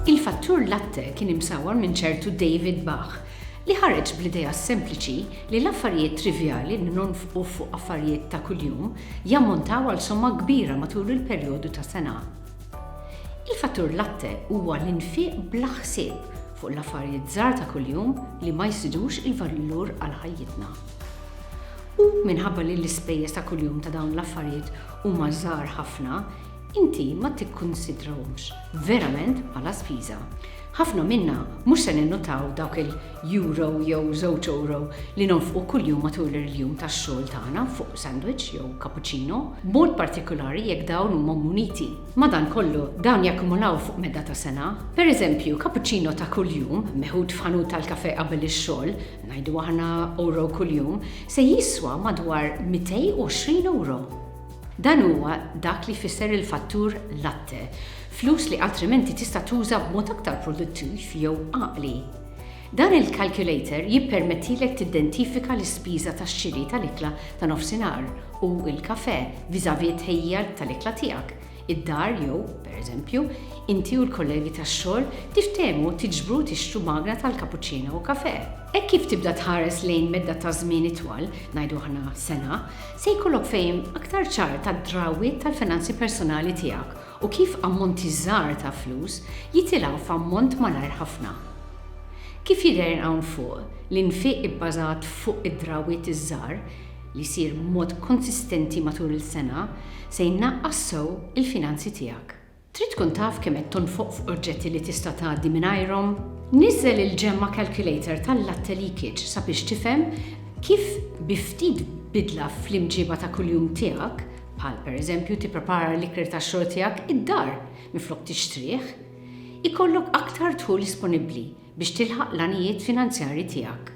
Il-fattur latte kien imsawwar minn ċertu David Bach, li ħareġ bl-idea sempliċi li l-affarijiet trivjali li nonfqu fuq affarijiet ta' kuljum jammontaw għal somma kbira matul il-perjodu ta' sena. Il-fattur latte huwa l-infiq bla ħsieb fuq l-affarijiet żgħar ta' kuljum li ma jżidux il-valur għal ħajjitna. U minħabba li l-ispejjeż ta' kuljum ta' dawn l-affarijiet huma żgħar ħafna, inti ma tikkunsidrahomx verament bħala spiża. Ħafna minna mhux se ninnutaw dawk il. euro jew żewġ euro li nonfqu kuljum matul il-jum tax-xogħol tagħna fuq sandwich jew cappuccino, b'mod partikulari jekk dawn huma muniti. Madankollu, dawn jakkumulaw fuq meda ta' sena. Pereżempju, cappuccino ta' kuljum, meħud f'ħanut tal-kafè qabel ix-xogħol, ngħidu aħna euro kuljum, se jiswa madwar 220 euro. Dan huwa dak li jfisser il-fattur latte, flus li altrimenti tista' tuża b'mod aktar produttiv jew għaqli. Dan il-calculator jippermettilek tiddentifika l-ispiża tax-xiri tal-ikla ta' nofsinhar u l-kafè vis-à-vis t-tħejjija tal-ikla tiegħek. Id-dar jew, pereżempju, inti u l-kollegi tax-xogħol tiftehmu tiġbru u tixtru magna tal-cappuccino u kafè. Hekk kif tibda tħares lejn medda ta' żmien itwal, ngħidu aħna sena, se jkollok fehim aktar ċar tad-drawwiet tal-finanzi personali tiegħek u kif ammonti żgħar ta' flus jitilgħu f'ammont malajr ħafna. Kif jidher hawn fuq, l-infiq ibbażat fuq id-drawwiet iż-żgħar, li jsir b'mod konsistenti matul il-sena, se jnaqqas sew il-finanzi tiegħek. Trid tkun taf kemm qed tonfoq f'oġġetti li tista' tgħaddi mingħajrhom? Niżżel il-Gemma Calculator tal-Latte Leakage sabiex tifhem kif bi ftit bidla fl-imġiba ta' kuljum tiegħek bħal pereżempju tipprepara l-ikel tax-xogħol tiegħek id-dar minflok tixtrih, ikollok aktar dħul disponibbli biex tilħaq l-għanijiet finanzjarji tiegħek.